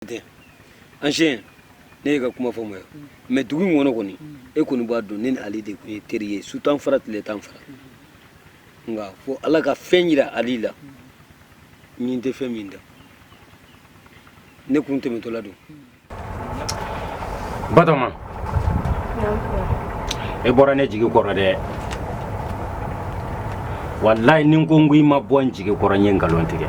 tɛ ancien ne ye ka kuma faamuya mais dugu in kɔnɔ kɔni e kɔni b'a dɔn ne ni Ali de tun ye teri ye su t'an fara tile t'an fara nka fo ala ka fɛn yira Ali la nin tɛ fɛn min da ne kun tɛmɛtɔla don Batoma e bɔra ne jigi kɔrɔ dɛ walayi ni ko n ko i ma bɔ n jigi kɔrɔ n ye nkalon tigɛ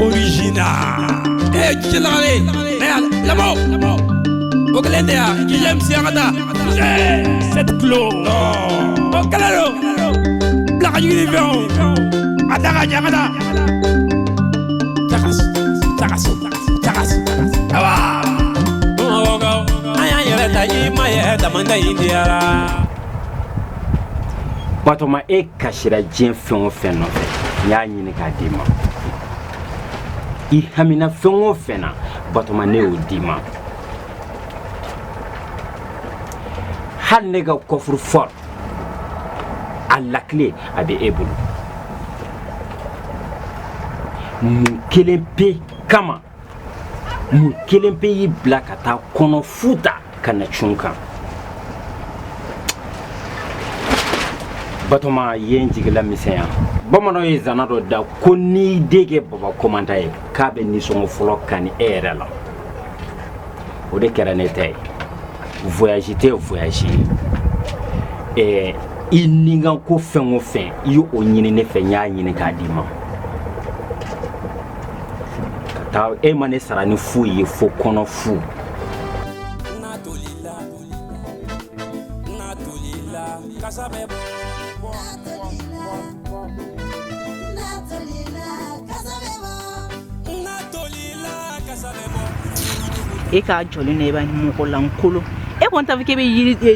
original e jilare ne labo o kelen de ya k'i ye misi an ka taa sept kilo o kelen don bila ka jigin ni fɛnw a da ka ɲɛ an ka taa Batoma e kasira diɲɛ fɛn o fɛn nɔfɛ n y'a ɲini k'a d'i ma i hamina fɛn o fɛn na batoma ne y'o d'i ma hali ne ka coffre fort a lakile a bɛ e bolo mun kelen pe kama mun kelen pe y'i bila ka taa kɔnɔ fu ta ka na cun n kan batoma ye n jigilamisɛnya bamananw ye zana dɔ da ko n'i den kɛ baba komandan ye k'a bɛ nisɔngɔ fɔlɔ kani e yɛrɛ la o de kɛra ne ta ye voyage tɛ voyage ye i nikanko fɛn o fɛn i y'o ɲini ne fɛ n y'a ɲini k'a d'i ma ka taa e ma ne sara ni foyi ye fo kɔnɔ fu kasa bɛ bɔ e k'a jɔ ne b'a mɔgɔlankolon e kɔni t'a fɔ k'e bɛ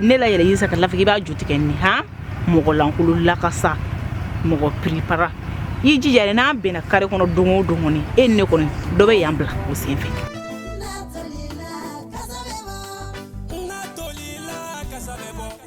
ne layɛlɛn yiri san ka laban k'i b'a ju tigɛ nin han mɔgɔlankolon lakasa mɔgɔ piripara i jija yɛrɛ n'an bɛnna kare kɔnɔ don o don kɔni e ni ne kɔni dɔ bɛ yan bila o sen fɛ bɔ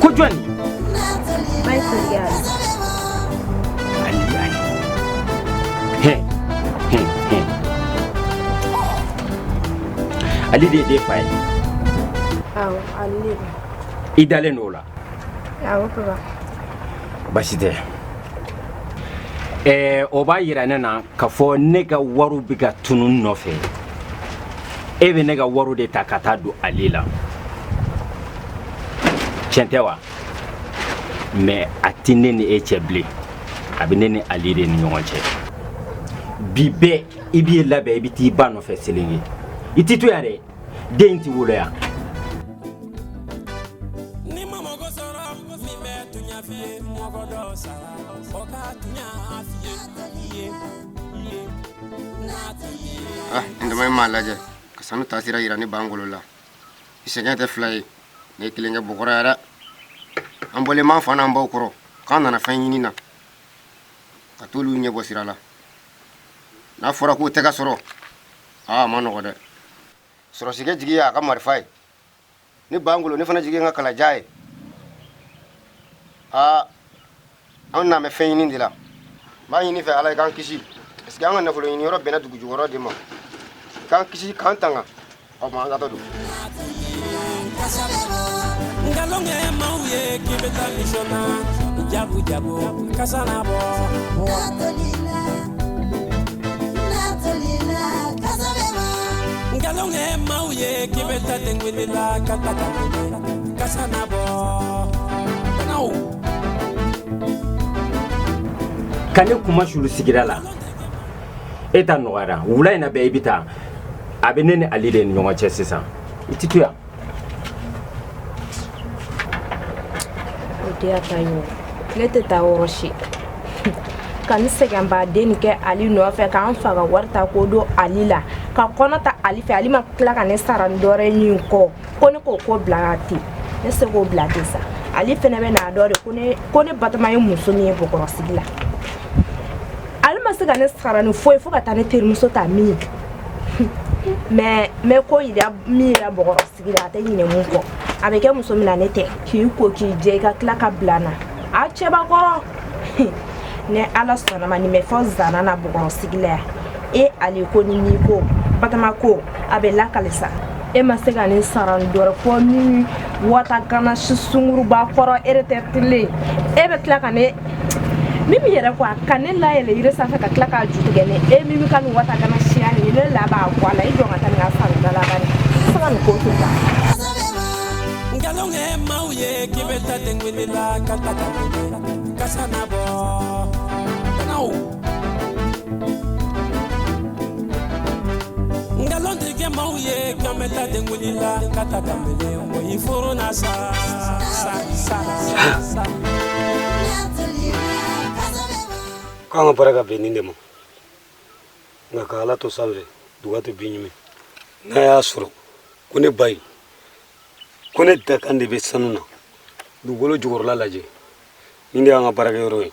Ko jɔn Ali de den fa ye i dalen don o la basi tɛ o b'a jira ne na k'a fɔ ne ka wari bɛ ka tunun nɔfɛ e bɛ ne ka wariw de ta ka taa don ali la tiɲɛ tɛ wa mais a tɛ ne ni e cɛ bilen a bɛ ne ni ali de ni ɲɔgɔn cɛ bi bɛɛ i b'i labɛn i bɛ t'i ba nɔfɛ selenge i tɛ to yan dɛ den tɛ wolo yan ah, n dama m'a lajɛ ka sanu taasira yira ne bangolo la i sɛgɛn tɛ fila ye ne ye kelen kɛ bɔkɔrɔ yan dɛ an bɔlen b'an fa n'an baw kɔrɔ k'an nana fɛn ɲini na ka t'olu ɲɛ bɔ sira la n'a fɔra k'o tɛ ka sɔrɔ aa a man nɔgɔ dɛ sɔrɔsikɛ jigi y'a ka marifa ye ne bangolo ne fana jigi ye n ka kalajan ye aa an nalen bɛ fɛn ɲini de la n b'a ɲini i fɛ ala i k'an kisi parce que an ka nafolo ɲini yɔrɔ bɛnna dugu jukɔrɔ de ma k'an kisi k'an tanga o ma an ka taa don nkalon kɛ maaw ye k'i bɛ taa misɔn na jabu jabu kasa na bɔ Ka ne kunmasuuli sigida la e ta nɔgɔyara wula in na bɛɛ i bɛ taa a bɛ ne ni Ali de ni ɲɔgɔn cɛ sisan i tɛ to yan Denyɛrɛ ta y'o ye, ne tɛ taa yɔrɔ si, ka n sɛgɛnba nin kɛ Ali nɔfɛ, ka n fa ka wari ta k'o don Ali la, ka kɔnɔ ta Ali fɛ, Ali ma tila ka ne sara ni dɔwɛrɛ ye nin kɔ, ko ne k'o ko bila ten, ne tɛ se k'o bila ten sa, Ali fana bɛ n'a dɔn de ko ne Batɔma ye muso min ye Bɔkɔrɔ sigi la, Ali ma se ka ne sara ni foyi ye fo ka taa ne terimuso ta min mais mais ko yira min yira bɔgɔrɔ sigi la a tɛ ɲinɛ mun kɔ a bɛ kɛ muso min na ne tɛ k'i ko k'i jɛ i ka tila ka bila n na a cɛba kɔrɔ ni ala sɔnna a ma nin bɛ fɔ zana na bɔgɔrɔ sigi la yan e ali ko ni n'i ko batɔma ko a bɛ lakali sa e ma se ka ne sara ni dɔwɛrɛ fo nin wata gana si sungurunba kɔrɔ retraitelen e bɛ tila ka ne mimi yɛrɛ ko a ka ne layɛlɛn yiri sanfɛ ka tila k'a ju tigɛ ne e mimi ka nin wata kana siya nin ne la b'a bɔ a la i jɔ ka taa nin ka fanga da la ba ni se ka nin ko to ta nkalon kɛ maaw ye k'i bɛ taa tɛngɛrɛla ka ta ka kasa na bɔ nkalontigikɛ ma ye ka ta den la ka ta mɔgɔ furu na sa k'an ka baraka bin nin de ma nka ka ala to sanfɛ duga tɛ bin ɲuman n'a y'a sɔrɔ ko ne ba ye ko ne dakan de bɛ sanu na dugukolo jukɔrɔla lajɛ nin de y'an ka baarakɛyɔrɔ ye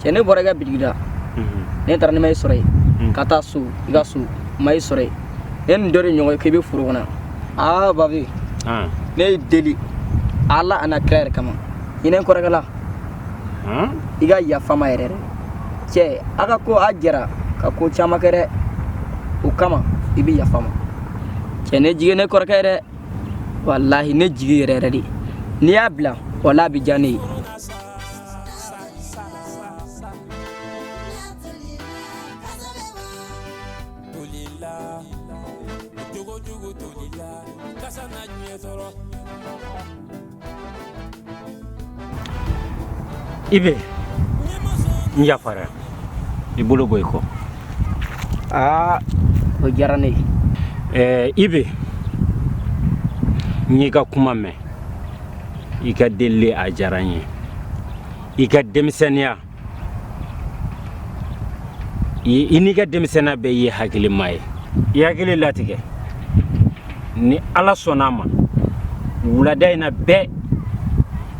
cɛ ne bɔra i ka bitigi la ne taara ne ma i sɔrɔ yen ka taa so i ka so ma i sɔrɔ yen ne ni dɔ de ɲɔgɔn ye k'i bɛ foro kɔnɔ aa babi ne y'i deli ala an'a kira yɛrɛ kama hinɛ n kɔrɔkɛ la i ka yafa a ma yɛrɛ dɛ cɛ a ka ko a jɛra ka ko caman kɛ dɛ o kama i bɛ yafa a ma cɛ ne jigi ne kɔrɔkɛ dɛ walahi ne jigi yɛrɛ yɛrɛ de n'i y'a bila wala a bɛ diya ne ye ibe n yafara i bolo bɔ i kɔ aa o diyara ne ye ɛɛ ibe n y'i ka kuma mɛn i ka deli a diyara n ye i ka denmisɛnninya i n'i ka denmisɛnninya bɛɛ i ye hakilima ye i hakili latigɛ ni ala sɔnna a ma wulada in na bɛɛ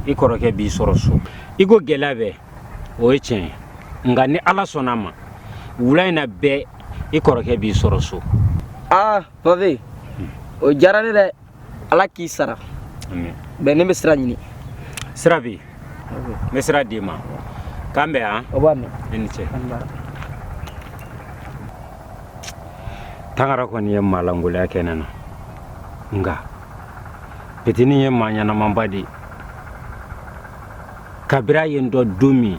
i kɔrɔkɛ b'i sɔrɔ so i ko gɛlɛya bɛɛ o ye tiɲɛ ye nka ni ala sɔnna a ma wula in na bɛɛ i kɔrɔkɛ b'i sɔrɔ so aa babi o diyara ne dɛ ala k'i sara bɛn ne bɛ sira ɲini sira bɛ yen n bɛ sira d'i ma k'an bɛn yan o b'a mɛn i ni cɛ tangara kɔni ye maa lankolonya kɛ ne na nka petini ye maa ɲɛnamaba de ye kabiri a ye n dɔn don min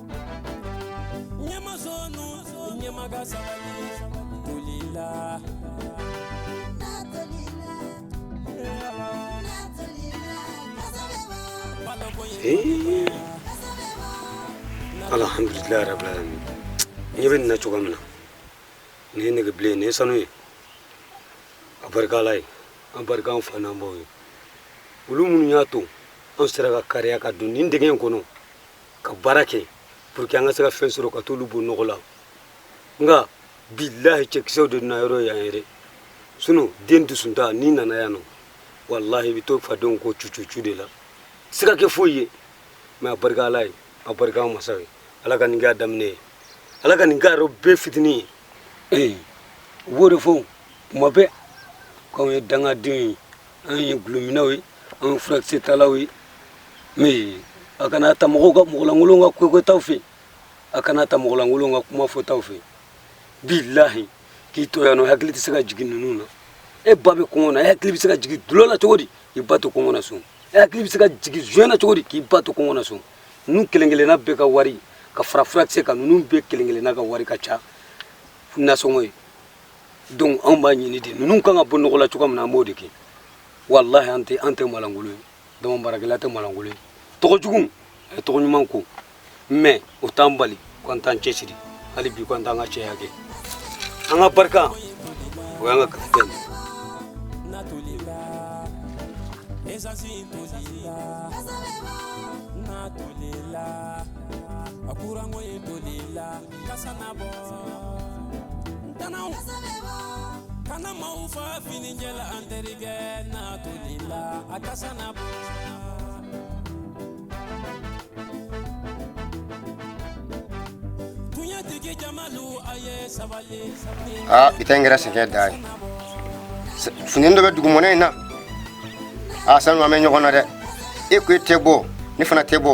ɲɛmazɔnu ɲɛmaga sabali tolila alhamdulilayi rabil alamin n ɲɛ bɛ nin na cogo min na nin ye nɛgɛ bilen nin ye sanu ye a barika ala ye a barika an fa n'an baw ye olu minnu y'a to an sera ka kariya ka don nin dingɛ in kɔnɔ ka baara kɛ pour que an ka se ka fɛn sɔrɔ ka t'olu bɔ nɔgɔ la nka bilahi cɛkisɛw de na yɔrɔ yan yɛrɛ sunu den dusuntan n'i nana yan nɔ walahi i bɛ to fadenw ko cucucu de la se ka kɛ foyi ye mɛ a barika ala ye a barika an masa ye ala ka nin kɛ a daminɛ ye ala ka nin kɛ a rɔ bɛɛ fitinin ye ee u b'o de fɔ kuma bɛɛ k'anw ye dangadenw ye an ye gulominɛw ye an ye furakisɛ talaw ye mais a kana ta mɔgɔ mɔgɔlankolon ka ko kɛtaw fɛ a kana ta mɔgɔlankolon ka kuma fɔtaw fɛ bilahi k'i to yan nɔ hakili tɛ se ka jigin ninnu na e ba bɛ kɔngɔ na e hakili bɛ se ka jigin dɔlɔ la cogo di k'i ba to kɔngɔ na so e hakili bɛ se ka jigin joint na cogo di k'i ba to kɔngɔ na so ninnu kelen kelenna bɛɛ ka wari ka fara furakisɛ kan ninnu bɛɛ kelen kelenna ka wari ka ca nasɔngɔ ye donc anw b'a ɲini de ninnu kan ka bɔ nɔgɔ la cogoya min na an b'o de kɛ walahi an tɛ maalankolon ye daman baarakɛla tɛ maalankolon ye tɔgɔ jugu a ye tɔgɔ ɲuman ko mɛ o t'an bali ko an t'an cɛsiri hali bi ko an t'an ka cɛya kɛ an ka barika o y'an ka kapitɛni Esansi tolila, n'a tolila, a kuranko ye tolila. kasanabɔ ntɛnɛw kana maaw fa fini jɛ la an terikɛ n'a tolila a kasanabɔ tiɲɛtigi jamalu a ye sabali aa i tɛ n kɛra sɛgɛn da ye fɛnnin dɔ bɛ dugumɔnɛ in na a sanu an bɛ ɲɔgɔn na dɛ e ko e tɛ bɔ ne fana tɛ bɔ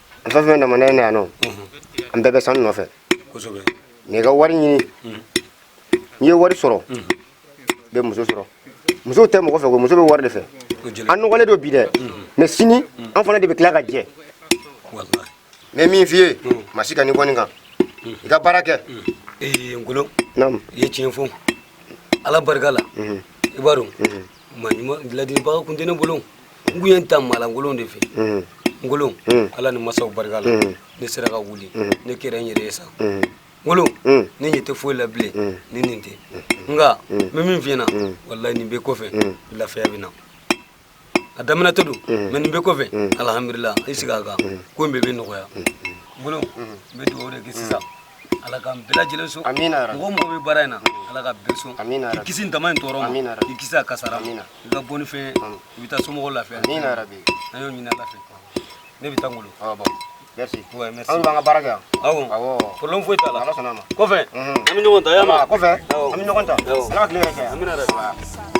fɛn fɛn nana ne ye ne yan nɔ an bɛɛ bɛ sanu nɔfɛ n'i ka wari ɲini n'i ye wari sɔrɔ i bɛ muso sɔrɔ muso tɛ mɔgɔ fɛ ko muso bɛ wari de fɛ an nɔgɔlen don bi dɛ mɛ sini an fana de bɛ tila ka jɛ n bɛ min f'i ye ma si ka ni kɔni kan i ka baara kɛ ngolo i ye tiɲɛ fɔ ala barika la i b'a dɔn ladilibaga kun tɛ ne bolo n kun ye n ta maalankolon de fɛ ngolo ala ni masaw barika la ne sera ka wuli ne kɛra n yɛrɛ ye sa ngolo ne ɲɛ tɛ foyi la bilen ni nin tɛ nka n bɛ min f'i ɲɛna walayi nin bɛɛ kɔfɛ lafiya bɛ na a daminɛtɔ don mɛ nin bɛɛ kɔfɛ alihamudulila i sigi a kan ko in bɛɛ bɛ nɔgɔya ngolo n bɛ dugawu de kɛ sisan ala ka bɛɛ lajɛlen sɔn mɔgɔ mɔgɔ bɛ baara in na ala ka bɛɛ sɔn i kisi daman in tɔɔrɔ ma i kisi a kasara i ka bɔ ni fɛn i bɛ taa somɔgɔw lafiya an y'o ɲini ala fɛ ne bɛ taa ngolo merci ouais merci an b'an ka baara kɛ yan awɔ awɔ problème foyi t'a la ala sɔnna ma kɔfɛ an bɛ ɲɔgɔn ta y'a ma kɔfɛ an bɛ ɲɔgɔn ta ala ka tile hɛrɛ kɛ amiina yarabi